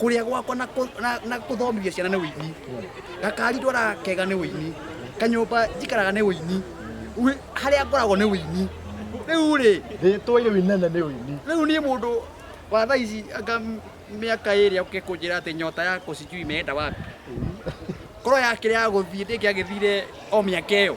Kũrĩa gwakwa na kũ- na- na gũthomithia ciana nĩ ũini gakari ndwaraga kega nĩ ũini kanyũmba njikaraga nĩ ũini Ui- harĩa ngoragwo nĩ ũini rĩu rĩ Rĩtwa rĩu inene nĩ ũini. rĩu niĩ mũndũ wa thaa ici anga m- mĩaka ĩrĩa ũke kũnjĩra atĩ nyota yakwa sijui imeenda wapi ngoro yakĩrĩ ya gũthiĩ ndĩngĩagĩthire o mĩaka ĩyo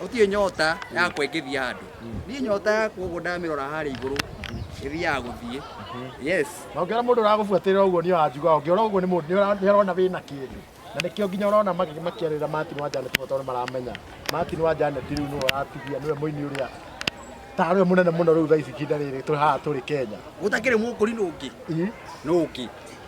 gũtirĩ nyota ya kwengithia andũ niĩ nyota yakwa ũguo ndamĩrora harĩa igũrũ ĩthiaga gũthiĩ yes na ũngĩona mũndũ ũragũbuatĩrĩra ũguo nĩ wanjuga ũngĩona ũguo nĩ mũndũ nĩ ũra- nĩ arona wĩna kĩndũ na nĩkĩo nginya ũrona magĩ- makĩarĩra Martin wa Janet mũno tondũ maramenya Martin wa Janet rĩu nĩwe ũratigia nĩwe mũini ũrĩa tarwe mũnene mũno rĩu thaa ici ihinda rĩrĩ tũrĩ haha tũrĩ Kenya gũtakĩrĩ mũkũri nũngĩ Ii. nũngĩ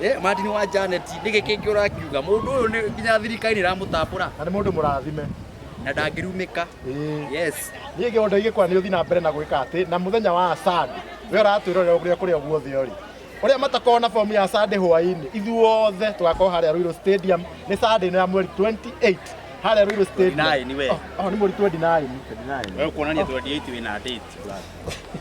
Eh, Martin wa Janet, nĩkĩ kĩngĩ ũrakiuga? Mũndũ ũyũ nĩ nginya thirikari nĩ ĩramũtambũra na nĩ mũndũ mũrathime na ndangĩrumĩka. Ĩĩ. Yes. niä gä ondo igä kwana nä å thi na mbere na gwä ka atä na må thenya wa sande we ratwä rorera å rä a kå rä a guothe å rä å rä a matakorwo na bomu ya sande hwainä ithuothe tå gakorwo harä a rå stadium nä sande ä no ya mweri 28 harä a rå irå Ndinaĩ nĩ we. nä mweri 29 Wewe kuonania 28 wina date.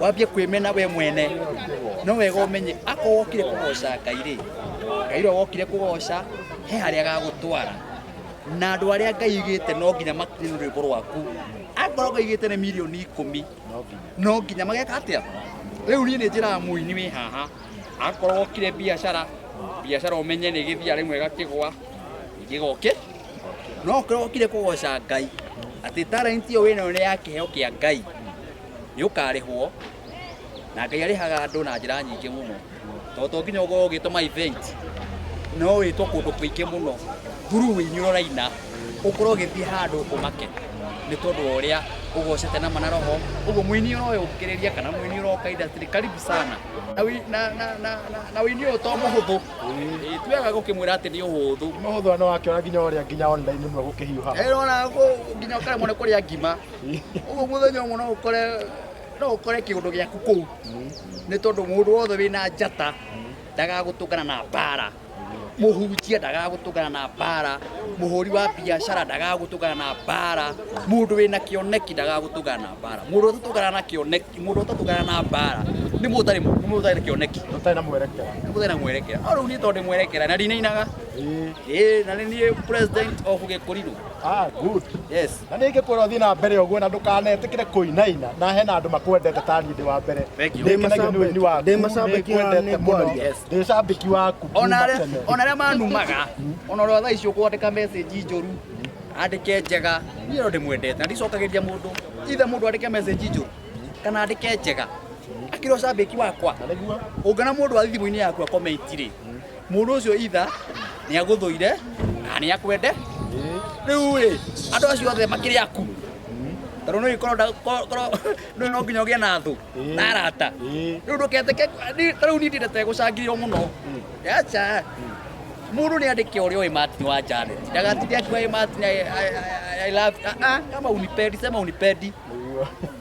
wambie kwĩmena we mwene no wega ũmenye akorwo wokire kũgoca ngai rĩ ngai ũrĩa wokire kũgoca he harĩa agagũtwara na andũ arĩa ngai igĩte no nginya makinye nĩ rwĩmbo rwaku akorwo ngai igĩte nĩ milioni ikũmi no nginya mageka atĩa rĩu niĩ nĩ njĩraga mũini wĩ haha akorwo wokire biacara biacara ũmenye nĩ gĩthia rĩmwe gakĩgwa gĩgoke no ũkorwo wokire kũgoca ngai atĩ talent ĩyo wĩnayo nĩ ya kĩheo kĩa ngai nĩ ũkarĩhwo na Ngai arĩhaga andũ na njĩra nyingĩ mũno tondũ to nginya ũkorwo ũgĩtwo ma event no wĩtwo kũndũ kũingĩ mũno through inyuĩ ũraina ũkorwo ũgĩthiĩ handũ ũmake nĩ tondũ wa ũrĩa ũgocete na mana roho ũguo mũini ũroya ũkĩrĩria kana mũini ũroka industry karibu sana na wi- na- na- na- na- na ũini ũyũ to mũhũthũ Ĩ, tuaga gũkĩmwĩra atĩ nĩ ũhũthũ no hũthwa no wakĩona nginya ũrĩa nginya online mwe gũkĩhiũha Ĩrona nginya ũkaremwo nĩ kũrĩa ngima Ũguo mũthenya ũmwe no ũkore no ũkore kĩũndũ gĩaku kũu nĩ tondũ mũndũ wothe wĩna njata ndagagũtũngana na mbara mũhunjia ndagagũtũngana na mbara mũhũri wa biacara ndagagũtũngana na mbara mũndũ wĩna kĩoneki ndagagũtũngana na mbara mũndũ ũtatũngana na kĩoneki mũndũ ũtatũngana na mbara nĩ mũndũ ũtarĩ nĩ mũndũ ũtarĩ kĩoneki Ũtarĩ na mwerekera. nĩ mũndũ ũtarĩ na mwerekera no rĩu niĩ tondũ ndĩ mwerekera na ndinainaga ĩĩ na nĩ niĩ president of gĩkũrirũ Ah, good. Yes. Na ningä kwä ra å thiä na mbere å guo na ndå kanetä kä re kå inaina na hena andå makwendete tani ndä wa mbere Thank you. Ndĩ kenagio nĩ ũini waku. Ndĩ macambĩki wa Nĩngwendete mũno. Nĩngwaria. Yes. Ndĩ cambĩki waku ona kuma arĩa- tene. ona arĩa manumaga ona ũrĩa thaa icio kwandĩka message njũru andĩke njega niĩ no ndĩmwendete na ndicokagĩria mũndũ ithe mũndũ andĩke message njũru kana andĩke njega akĩrĩ ũcambĩki wakwa Na nĩguo ũngana mũndũ wa thimũ-inĩ yaku akomenti-rĩ Mũndũ ũcio itha nĩ agũthũire na nĩ akwende. Rĩu rĩ, andũ acio othe makĩrĩ aku. Tondũ nĩ korwo nda- ko- korwo nĩ no nginya ũgĩe na thũ na arata. Rĩu ndũketĩke ni- ta rĩu niĩ ndindete gũcangĩrĩrwo mũno. Aca. Mũndũ nĩ andĩke ũrĩa ũĩ Martin wa Janet. Ndagatinde akiuga "Ĩ Martin I- I- I- I love you." Ah, ah, kama unipendi, sema unipendi.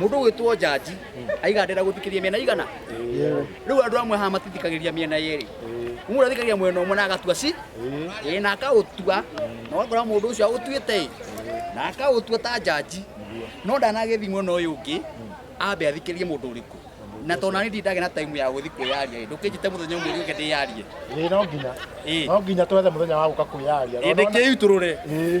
mundu gwitwo jaji aigandira guthikiria miena igana riu andu amwe haha matithikagiriria miena yeri mundu athikagiriria mwena umwe na agatua si ii na akautua na wakora mundu ucio autuite i na akautua ta jaji no ndanagithi mwena uyu ungi ambe athikirie mundu uriku na tona ni ndage na time ya guthi kwiyaria i ndukijite muthenya umwe uke ndiyarie Ĩĩ, no nginya ii no nginya twethe mũthenya wa gũka kwĩyaria indi kiu turure Ĩĩ.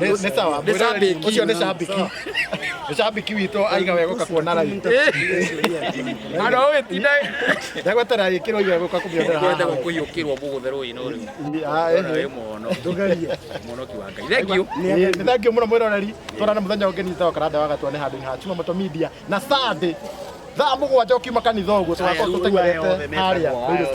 Nĩ- nĩ sawa Nĩ shabiki. ũcio nĩ shabiki nĩ shabiki witũ aiga wega ũka kuona raithi Andũ a wĩtinda ndagwetera gĩkĩro iga gũka kũmĩonera kwenda haha kũhiũkĩrwo mũgũthe rũĩ-inĩ ũrĩu Ah, Ũyũ ehe. wĩ mũhono mũhonoki wa ngai thengiũ Nĩ thangiũ mũno mwĩroreri twarana mũthenya ũngĩ nĩ sawa karanda wagatwa nĩ handũ-inĩ ha Chuma Moto Media na Sunday thaa mũgwanja ũkiuma kanitha ũguo tũgakorwo tũtenyerete harĩa